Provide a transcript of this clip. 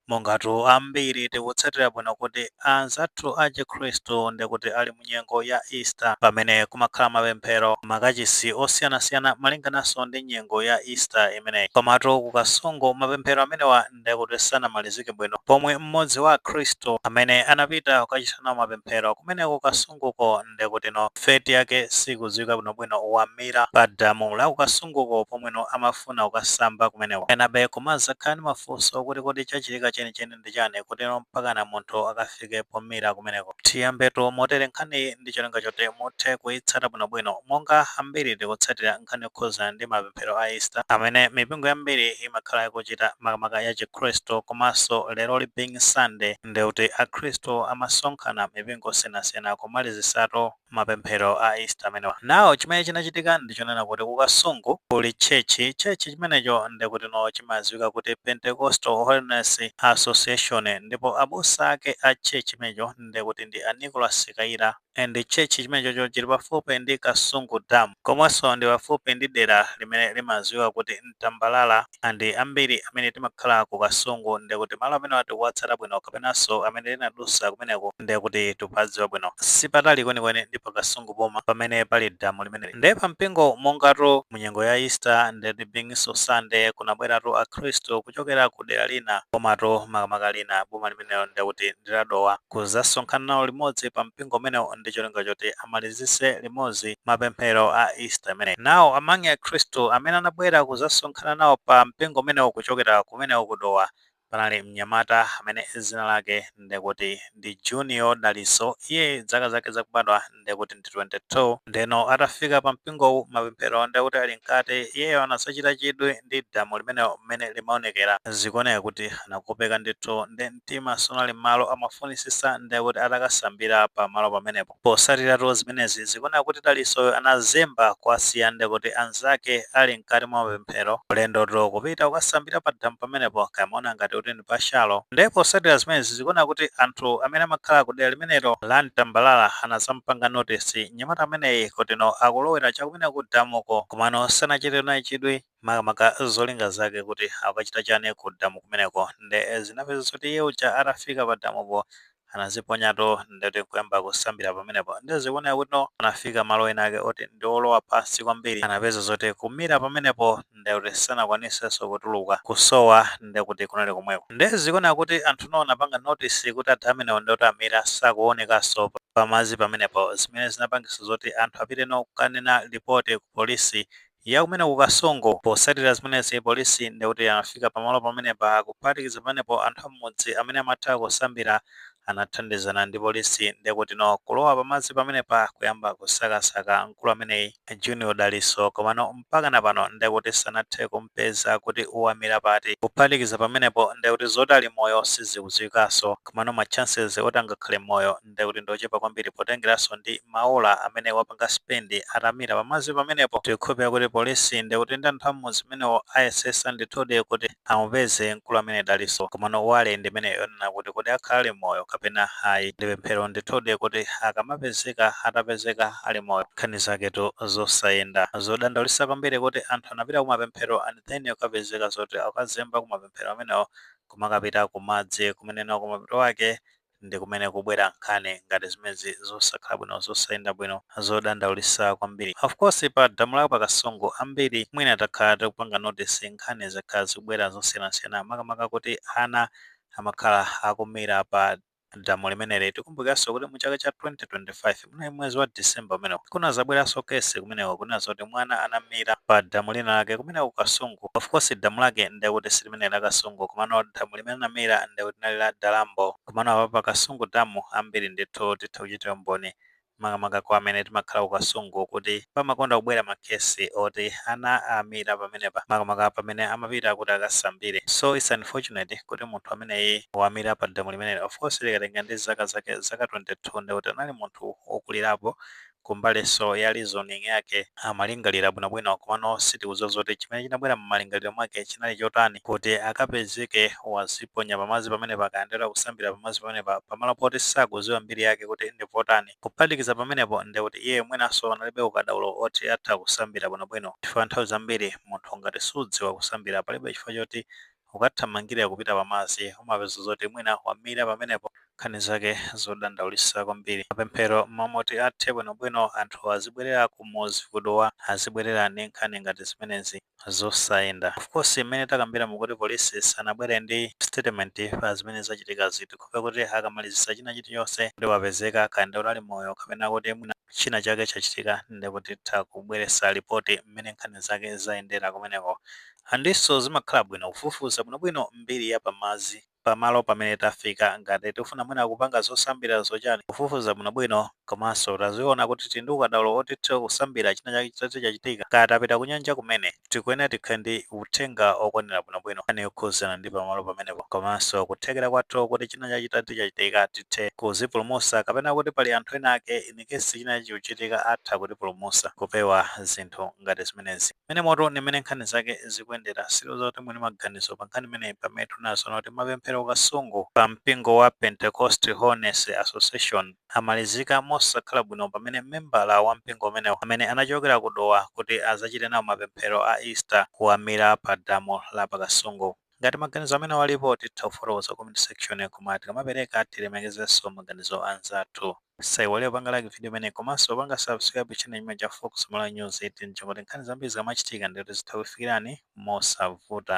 Mongatu ambiri tikutsatira bwino kuti anzathu a chikhristu ndikuti ali mu nyengo ya Easter pamene kumakhala mapemphero m'makachisi osiyanasiyana malingananso ndi nyengo ya Easter imeneyi. Komatu ku Kasungu mapemphero amenewa ndekuti sanamalizike bwino pomwe m'modzi wa akhristu amene anapita kukachita nawo mapemphero kumeneko Kasunguko, ndekuti no fate yake sikuziwika bwino bwino wamira pa damu la kukasunguko pomwe no amafuna kukasamba kumeneko enabe kumazakhala ndi mafunso okuti kodi chachitika chenicheni ndi chani kuti no mpakana munthu akafike pomira kumeneko tiyambetu motere nkhaniyi ndi cholinga choti muthe kuyitsata bwino bwino monga ambiri tikutsatira nkhani yokhuzana ndi mapemphero a Easter amene mipingo yambiri imakhala ikuchita makamaka ya chikhristu komanso leroli being Sunday ndeuti akhristu amasonkhana m'mipingo osiyanasiyana kumalizitsatu mapemphero a Easter amenewa. Now chimene chinachitika ndichonena kuti ku Kasungu kuli church, church chimenecho ndekutino chimaziwika kuti Pentecostal Holiness Association ndipo abusa ake a church imenecho ndekuti ndi a Nicholas Kayira. and church chimenechocho chili pafupi ndi kasungu dam komanso ndi pafupi ndi dera limene limaziwika kuti mtambalala and ambiri amene timakhala ku kasungu ndiye kuti malo amenewa tikuwatsata bwino kapenanso amene tinadusa kumeneko ndiye kuti tikuwadziwa bwino sipatali kwenikweni ndi pa kasungu boma pamene pali damu limeneli ndiye pa mpingo mongatu mu nyengo ya easter ndiye kuti being so sunday kunabweratu akhristu kuchokera ku dera lina komatu makamaka lina boma limenelo ndiye kuti ndi la Dowa kuzasonkhana nawo limodzi pa mpingo umenewu ndi cholinga choti amalizitse limodzi mapemphero a Easter imeneyi. Now among akhristu amene anabwera kuzasonkhana nawo pa mpingo umenewu kuchokera kumeneko ku Dowa panali mnyamata amene dzina lake ndikuti ndi Junior Dalitso, iye zaka zake zakubadwa ndekuti ndi 22 ndeno atafika pa mpingowu mapemphero ndekuti ali mkati iyeyo anazachita chidwi ndi damu limenelo mmene limaonekera zikuoneka kuti anakopeka ndithu nde mtima sunali mmalo amafunisisa ndekuti atakasambira pa malo pamenepo posatiratu zimenezi zikuoneka kuti Dalitsoyo anazemba kuwasiya ndekuti anzake ali mkati mwa pemphero ulendoto kupita kukasambira pa damu pamenepo kaya amaona ngati kuti ndi pa shallow ndiye posatira zimenezi zikuoneka kuti anthu amene amakhala ku dera limenelo la mtambalala anazampanga notisi mnyamata ameneyi kutino akulowera chakumene ku damuko komano sanachite naye chidwi makamaka zolinga zake kuti akachita chani ku damu kumeneko nde zinapezeka zoti iye uja atafika pa damupo anaziponyatu ndeti nkuyamba kusambira pamenepo nde zikuoneka kuti no anafika malo ena ake oti ndi olowa pansi kwambiri anapeza zoti kumira pamenepo nde kuti sanakwanisenso kutuluka kusowa nde kuti kunali komweko nde zikuoneka kuti anthu no anapanga notice kuti adha amenewo ndoti amira sakuonekanso pamazi pamenepo zimene zinapangisa zoti anthu apite no kukanena lipoti ku polisi ya kumene ku Kasungu. Potsatira zimenezi, polisi ndi kuti anafika pamalo pamenepa. Kuphatikiza pamenepo, anthu a m'mudzi amene amatha kusambira anathandizana ndi polisi ndi kuti kulowa pamadzi pamenepa kuyamba kusakasaka mkulu ameneyi, Junior Dalitso, komano mpakana pano ndi kuti sanathe kumpeza kuti wamira pati. Kuphatikiza pamenepo, ndi kuti zoti ali moyo sizikudziwikanso, komano ma chances oti angakhale moyo ndi. ndiye kuti ndi ochepa kwambiri potengeranso ndi maola amene wapanga spend atamira pamadzi pamenepo. Tikukhulupirira kuti polisi ndiye kuti ndi anthu a m'mudzi umenewo ayesesa ndithudi kuti amupeze mkulu amene Dalitso. Komano worry ndi imene yonena kuti kodi akhala ali moyo kapena ayi. Ndi pemphero ndithudi kuti akamapezeka atapezeka ali moyo. Nkhani zaketu zosayenda. Zodandaulitsa kwambiri kuti anthu anapita kumapemphero and then kukapezeka zoti akazemba kumapemphero amenewo kumakapita kumadzi kumene nako mapeto ake ndi kumene kubwera nkhani ngati zimezi zosakhala bwino zosayenda bwino zodandaulitsa kwambiri of course pa damu la pa kasungu ambiri mwina takhala tikupanga notice nkhani zakhala zikubwera zosiyanasiyana makamaka kuti ana amakhala akumira pa damu limeneli tikumbukiranso kuti mu chaka cha 2025 Munali mwezi wa December umenewo. Kunazabweranso case kumeneko kunena zoti mwana anamira pa damu lina lake kumeneko ku Kasungu. Of course damu lake ndiye kuti si limeneli la Kasungu komano damu limene anamira ndiye kuti linali la Dalambo. Komano apa pa Kasungu damu ambiri ndithu titha kuchitira umboni makamaka kwa amene timakhala ku Kasungu kuti pamakonda kubwera ma case oti ana amira pamenepa makamaka pamene amapita kuti akasambire. So it's unfortunate kuti munthu ameneyi wamira pa damu limeneli. Of course tikatengera ndi zaka zake zaka 22. ndikuti anali munthu wokulirapo kumbalinso ya reasoning yake, amalingalira bwinobwino komano sitikudziwa zoti chimene chinabwera m'malingaliro mwake chinali chotani kuti akapezeke waziponya pamadzi pamenepa kaya ndithu kusambira pamadzi pamenepa pamalo poti sakudziwa mbiri yake kuti ndi potani. Kuphatikiza pamenepo ndekuti iye mwinanso analibe ukadaulo oti atha kusambira bwinobwino chifukwa nthawi zambiri munthu ngati sudziwa kusambira palibe chifukwa choti Ukathamangira kupita pamadzi umapeza zoti mwina wamira pamenepo. Nkhani zake zodandaulitsa kwambiri. Mapemphero m'malo moti athe bwino bwino anthu azibwerera kumudzi ku Dowa azibwerera ndi nkhani ngati zimenezi zosayenda. Of course mmene takambira mukuti police sanabwere ndi statement pa zimene zachitikazi tikhope kuti akamalizitsa china chili chonse kuti wapezeka kaya ndi wonali moyo kapena kuti mwina china chake chachitika ndekuti titha kubweretsa lipoti mmene nkhani zake zayendera kumeneko. Andinso zimakhala bwino kufufuza bwinobwino mbiri ya pamadzi pamalo pamene tafika ngati tikufuna mwina kupanga zosambira zochani kufufuza bwinobwino komanso tadziona kuti tili ndi ukadaulo woti tithe kusambira china chake chitati chachitika kaya tapita kunyanja kumene tikuyenera tikhale ndi uthenga wokwanira bwinobwino nkhani yokhuzana ndi pamalo pamenepo komanso kuthekera kwathu kuti china chake chitati chachitika tithe kuzipulumusa kapena kuti pali anthu ena ake in case china chake chikuchitika atha kutipulumusa kupewa zinthu ngati zimenezi. Mmenemo tu ndi mmene nkhani zake zikuyendera, siloza kuti muli maganizo pa nkhani imeneyi pamene tunaona kuti mapemphero ku Kasungu pa mpingo wa Pentecost Holiness Association amalizika mosakhala bwino pamene membala wa mpingo umenewo amene anachokera ku Dowa kuti azachite nawo mapemphero a Easter wamira pa damu la pa Kasungu. Ngati maganizo amene alipo titha kufotokoza comment section koma tikamapereka tilemekezenso maganizo a anzathu. Musaiwale kupanga like video imene komanso kupanga subscribe channel chimenechi cha Fox Malawi News 18 choti nkhani zambiri zikamachitika ndi kuti zitha kukufikirani mosavuta.